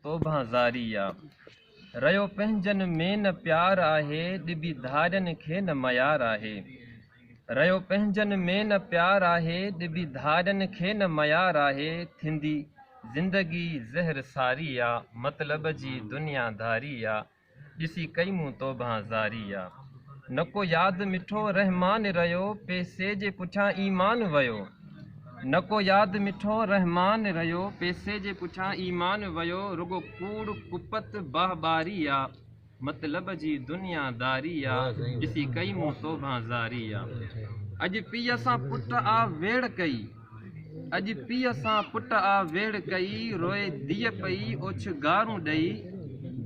توبهان زاري آ ريو پنهنجن ۾ نه پيار آهي ڏبي ڌارين کي نه ميار آهي ريو پنهنجن ۾ نه پيار آهي ڏبي ڌارين کي نه ميار آهي ٿيندي زندگي زهر ساري آ مطلب جي دنيا داري آ ڏسي ڪئي مون توبهان زاري يا نه ڪو ياد مٺو رحمان رهيو پئسي جي پٺيان ايمان ويو نه ڪو ياد مٺو رحمان رهيو پئسي جي پٺيان ايمان ويو رڳو ڪوڙ ڪپت باه ٻاري يا مطلب جي دنيا داري يا ڏسي ڪئي مون توبهان زاري يا اڄ پيء سان پٽ آ ويڙهه ڪئي. اڄ پيء سان پٽ آ ويڙهه ڪئي، روئي ڌيء پئي اوڇ گارون ڏئي،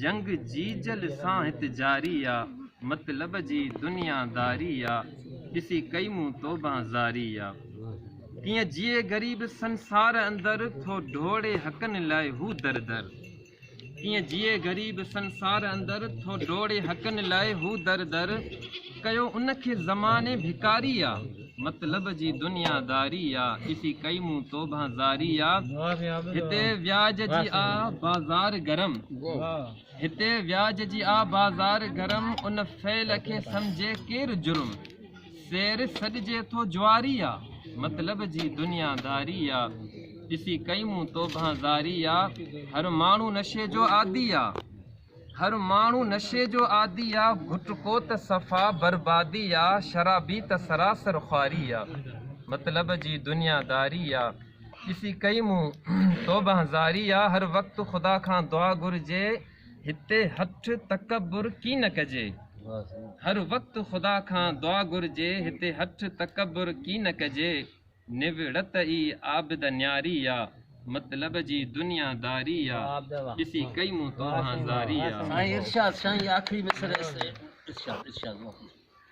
جنگ جيجل سان هت جاري آ، مطلب جي دنيا داري آ، ڏسي ڪئي مون توبان زاري آ. ڪيئن جيئي غريب سنسار اندر، ٿو ڊوڙي حقن لاء هو در در. ڪيئن جيئي غريب سنسار اندر ٿو ڊوڙي حقن لاء هو در در ڪيو ان کي زماني ڀڪاري آ مطلب جي دنيا داري آ ڏسي ڪئي مون توبهان زاري آ هتي وياج جي آ بازار گرم هتي وياج جي آ بازار گرم ان فعل کي سمجهي ڪير جرم سير سڏجي ٿو جواري آ، مطلب جي دنيا داري آ، ڏسي ڪئي مون توبهان زاري آ، هر ماڻهو نشي جو عادي آ، هر ماڻهو نشي جو عادي آ، گٽڪو ته صفا بربادي آ، شرابي ته سراسر خواري آ، مطلب جي دنيا داري آ، ڏسي ڪئي مون توبهان زاري آ، هر وقت خدا کان دعا گهرجي، هتي هٺ تڪبر ڪي نه ڪجي هر وقت خدا کان دعا گهرجي هتي هٺ تڪبر ڪي نه ڪجي نوڙت ئي عابد نياري آ مطلب جي دنيا داري آ ڏسي ڪئي مون توهان زاري آ.